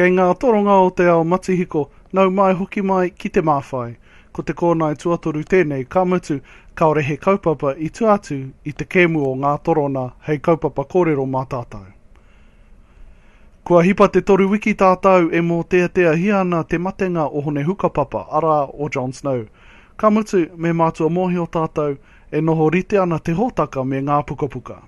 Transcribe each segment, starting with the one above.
Kei ngā toronga o te ao matihiko, nau mai hoki mai ki te māwhai. Ko te kōnae tuatoru tēnei, ka mutu, kāore he kaupapa i tua atu i te kēmu o ngā torona hei kaupapa kōrero mā tātou. Kua hipa te toru wiki tātou e mōteateahia ana te matenga o Hone Hukapapa, arā, o John Snow. Ka mutu, me mātua mōhio tātou, e noho rite ana te hōtaka me ngā pukapuka.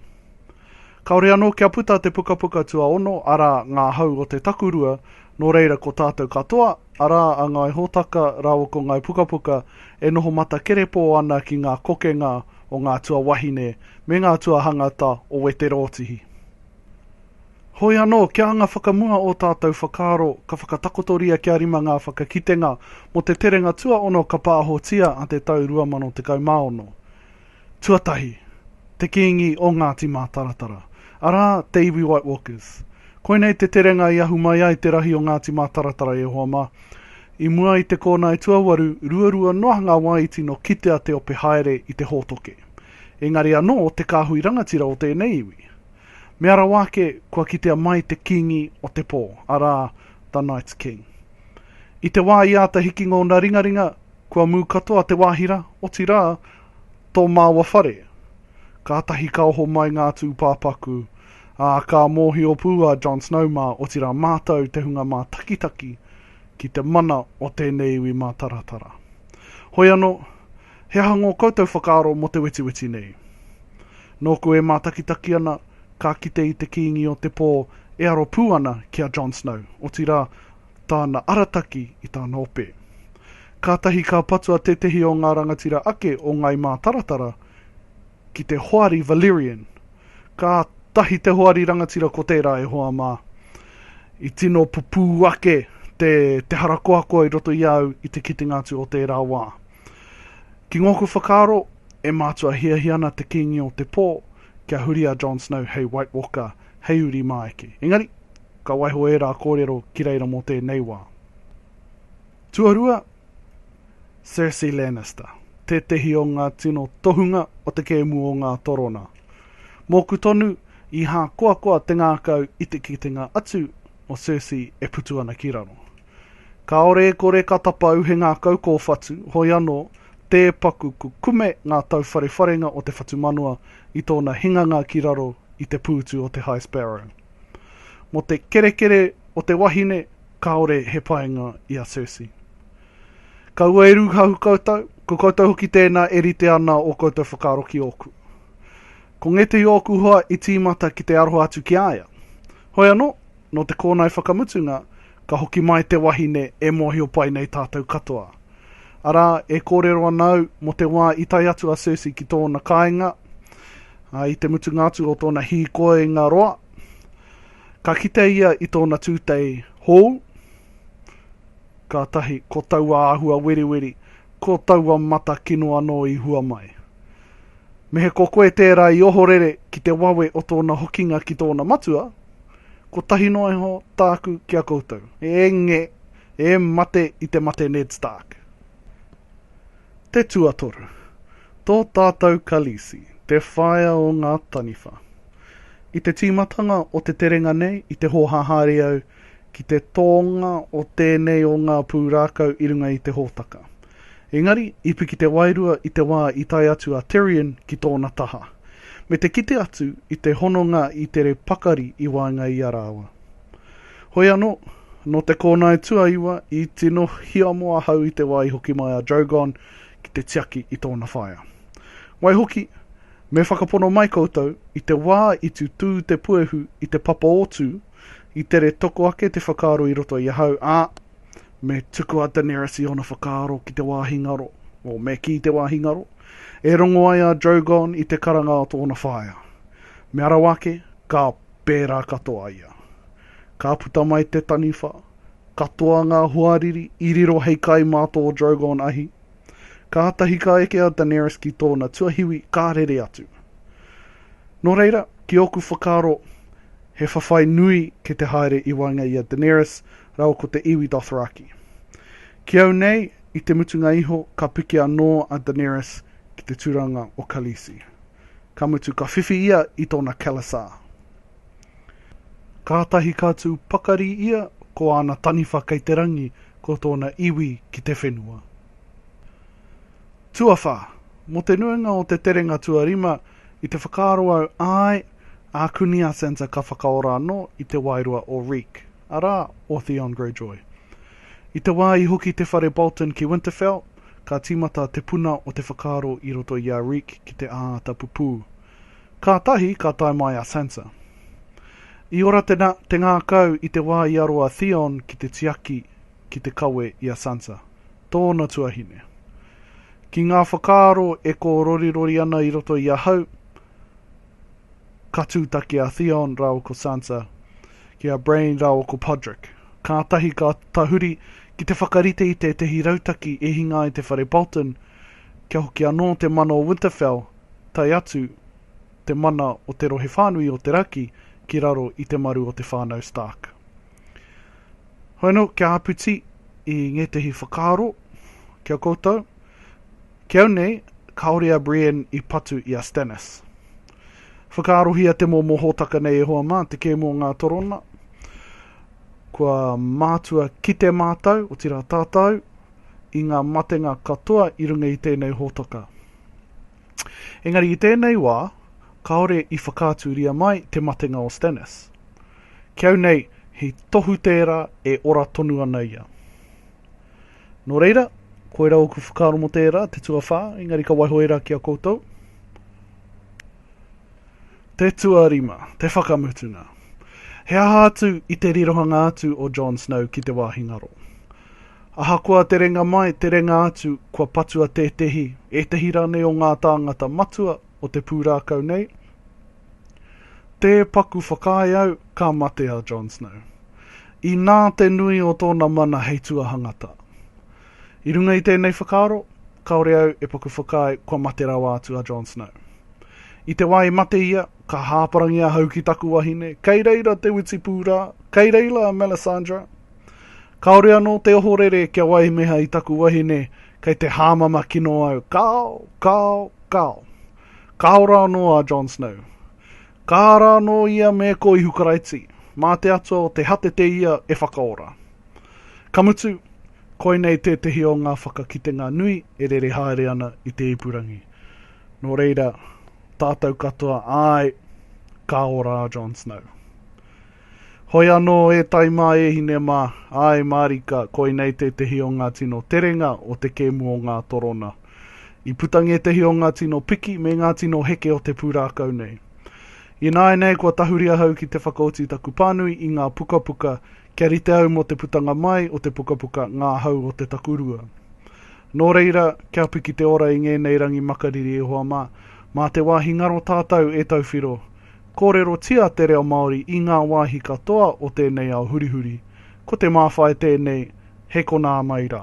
Kāore anō kia puta te pukapuka tuaono, arā, Ngā Hau o te Takurua, nō reira ko tātou katoa, arā, a Ngāi Hōtaka rāua ko Ngāi Pukapuka, e noho matakerepō ana ki ngā kokenga o ngā tuawahine me ngā tuahangata o Wete Rōtihi. Hoi anō, kia anga whakamua ō tātou whakaaro, ka whakatakotoria kia rima ngā whakakitenga mō te terenga tuaono ka pāhotia a te tau 2016. Tuatahi, te Kīngi o Ngāti Mātaratara, arā, te iwi White Walkers. Koinei te terenga i ahu mai ai te rahi o Ngāti Mātaratara e hoa mā. I mua i te kōnae tuawaru, ruarua noa ngā wāiti nō kitea te ope haere i te hōtoke. Engari anō te kāhui rangatira o tēnei iwi. Mea rawa ake kua kitea mai te Kīngi o te pō, arā, The Night's King. I te wā i āta hiki ngōna ringaringa, kua mū katoa te wāhira, otirā, Tō māua whare. Kātahi ka oho mai ngā tūpāpaku, ā, ka mōhio pū a Jon Snow mā, otirā mātou te hunga mātakitaki, ki te mana o tēnei iwi mātaratara. Hoi anō, he aha ngō koutou whakaaro mō te wetiweti nei? Nōku e mātakitaki ana, ka kite i te kīngi o te pō e aro pū ana ki a Jon Snow, otirā, tāna arataki i tāna ope. Kātahi ka patua tētehi o ngā rangatira ake o Ngāi Mātaratara ki te Hoari Valerian. Kātahi te hoari rangatira ko tērā e hoa mā. I tino pupū ake te, te harakoakoa i roto i a au i te kitenga atu o tērā wā. Ki ngōku whakaaro, e mātua hiahia ana te kīngi o te pō kia huri a Jon Snow hei White Walker hei uri mā eke. Engari, ka waiho ērā kōrero ki reira mō tēnei wā. Tuarua, Cersei Lannister, tētehi o ngā tino tohunga o te kēmu o ngā torona. Mōku tonu, i hākoakoa te ngākau i te kitenga atu o Cersei e putu ana ki raro. Kāore e kore ka tapa au he ngākau kōwhatu, hoi anō, tē paku kukume ngā tauwharewharenga o te whatumanawa i tōna hinganga ki raro i te pūtu o te High Sparrow. Mō te kerekere o te wahine, kāore he painga i a Circe. Kaua e rūhahu koutou, ko koutou hoki tēnā e rite ana ō koutou whakaaro ki ōku. Ko ngētehi o ōku hoa i tīmata ki te aroha atu ki a ia. Hoi anō, nō te kōnae whakamutunga, Ka hoki mai te wahine, E mōhio pai nei tātou katoa. Arā, e kōrero ana au, mō te wā i tae atu a Circe ki tōna kāinga, ā, i te mutunga atu o tōna hīkoinga roa, ka kite ia i tōna tūtei hōu, kātahi, ko taua āhua weriweri, ko taua mata kino anō i hua mai. Me he ko koe tērā i ohorere ki te wawe o tōna hokinga ki tōna matua, Kotahi noa iho tāku ki a koutou. Enge, e mate i te mate Ned Stark. Te tuatoru, tō tātou Khaleesi, te whaea o ngā taniwha. I te tīmatanga o te terenga nei, i te hōhā haere au ki te tōnga o tēnei o ngā pūrākau i runga i te hōtaka. Engari, i piki te wairua i te wā i tae atu a Terrian ki tōna taha, me te kite atu i te hononga i tere pakari i waenga i a rāua. Hoi anō, nō te kōnae tuaiwa i tino hiamo ahau i te wā i hoki mai a Drogon ki te tiaki i tōna whaea. Waihoki, me whakapono mai koutou, i te wā i tutū te puehu i te papa o Tū, i tere toko ake te whakaaro i roto i ahau, ā, me tuku a Daenerys i ōna whakaaro ki te wāhi ngaro, o, me kī te wāhi ngaro, e rongo ai a Drogon i te karanga o tōna whaea. Me arau ake, ka pērā katoa ia. Ka puta mai te taniwha, katoa ngā hoariri i riro hei kai mā tō Drogon ahi. Kātahi ka eke a Daenerys ki tōna tuahiwi ka rere atu. Nō reira, ki ōku whakaaro, he whawhai nui ki te haere i waenga i a Daenerys rawa ko te iwi Dothraki. Ki au nei, i te mutunga iho, ka piki anō a Daenerys ki te tūranga o Khaleesi. Ka mutu, ka whiwhi ia i tōna khalasar. Kātahi ka tū pakari ia ko āna taniwha kei te rangi, ko tōna iwi ki te whenua. Tuawhā, mō te nuinga o te terenga tuarima, i te whakaaro au, āe, ākuni a Sansa ka whakaora anō i te wairua o Reek. arā, o Theon Greyjoy. I te wā i hoki te whare Bolton ki Winterfell, ka tīmata te puna o te whakaaro i roto i a Reek ki te āta pupū. Kātahi ka tae mai a Sansa. I ora te te ngākau i te wā i aro a Theon ki te tiaki ki te kawe i a Sansa, tōna tuahine. Ki ngā whakaaro e kōrorirori ana i roto i ahau, Ka tūtaki a Theon rāua ko Sansa ki a Brain rāua ko Podrick. Kātahi ka tahuri ki te whakarite i tētehi rautaki e hinga ai te Whare Bolton, kia hoki anō te mana o Winterfell, tae atu te mana o te rohe whānui o te raki ki raro i te maru o te whānau Stark. Hoeno kia āpiti i ngētehi whakaaro ki a koutou. Ki au nei, kāore a Brienne i patu i a Stannis. Whakaarohia te momo hōtaka nei e hoa mā, te kēmu o ngā torona. Kua mātua kite mātou, otirā tātou, i ngā matenga katoa i runga i tēnei hōtaka. Engari i tēnei wā, kāore i whakaaturia mai te matenga o Stannis. Ki au nei, he tohu tērā e ora tonu ana ia. Nō reira, koirā ōku whakaaro mō tērā, te tuawhā, engari ka waiho ērā ki a koutou. Te tuarima, te whakamutunga. He aha atu i te rirohanga atu o Jon Snow ki te wāhi ngaro? Ahakoa te renga mai, te renga atu, kua patua tētehi, ētehi rānei o ngā tāngata matua o te pūrākau nei, Tē paku whakaae au, ka mate a Jon Snow. Inā te nui o tōna mana hei tuahangata. I runga i tēnei whakaaro, kāore au e paku whakaae kua mate rawa atu a Jon Snow. I te wā i mate ia, ka hāparangi ahau ki taku wahine, kei reira te witipū rā, kei reila a Melisandre. Kāore anō te ohorere kia waimeha i taku wahine, kei te hāmama kino au, kāo, kāo, kāo. Ka ora anō a Jon Snow. Ka ara anō ia me ko Ihu Karaiti, mā te Atua o te hatete ia e whakaora. Ka mutu, koinei tētehi o ngā whakakitenga nui e rere haere ana i te ipurangi. Nō reira, tātou katoa, āe, ka ora a Jon Snow. Hoi anō e tai mā e hine mā, āe mārika, koinei tētehi o ngā tino terenga o te kēmu o ngā torona. I puta ngētehi o ngā tino piki me ngā tino heke o te pūrākau nei. Ināianei kua tahuri ahau ki te whakaoti i taku pānui i ngā pukapuka kia rite au mō te putanga mai o te pukapuka Ngā Hau o te Takurua. Nō reira, kia piki te ora i ngēnei rangi makariri e hoa mā, mā te wāhi ngaro tātou e tauwhiro, Kōrerotia te reo Māori i ngā wāhi katoa o tēnei ao hurihuri. Ko te māwhai tēnei, he konā mai rā.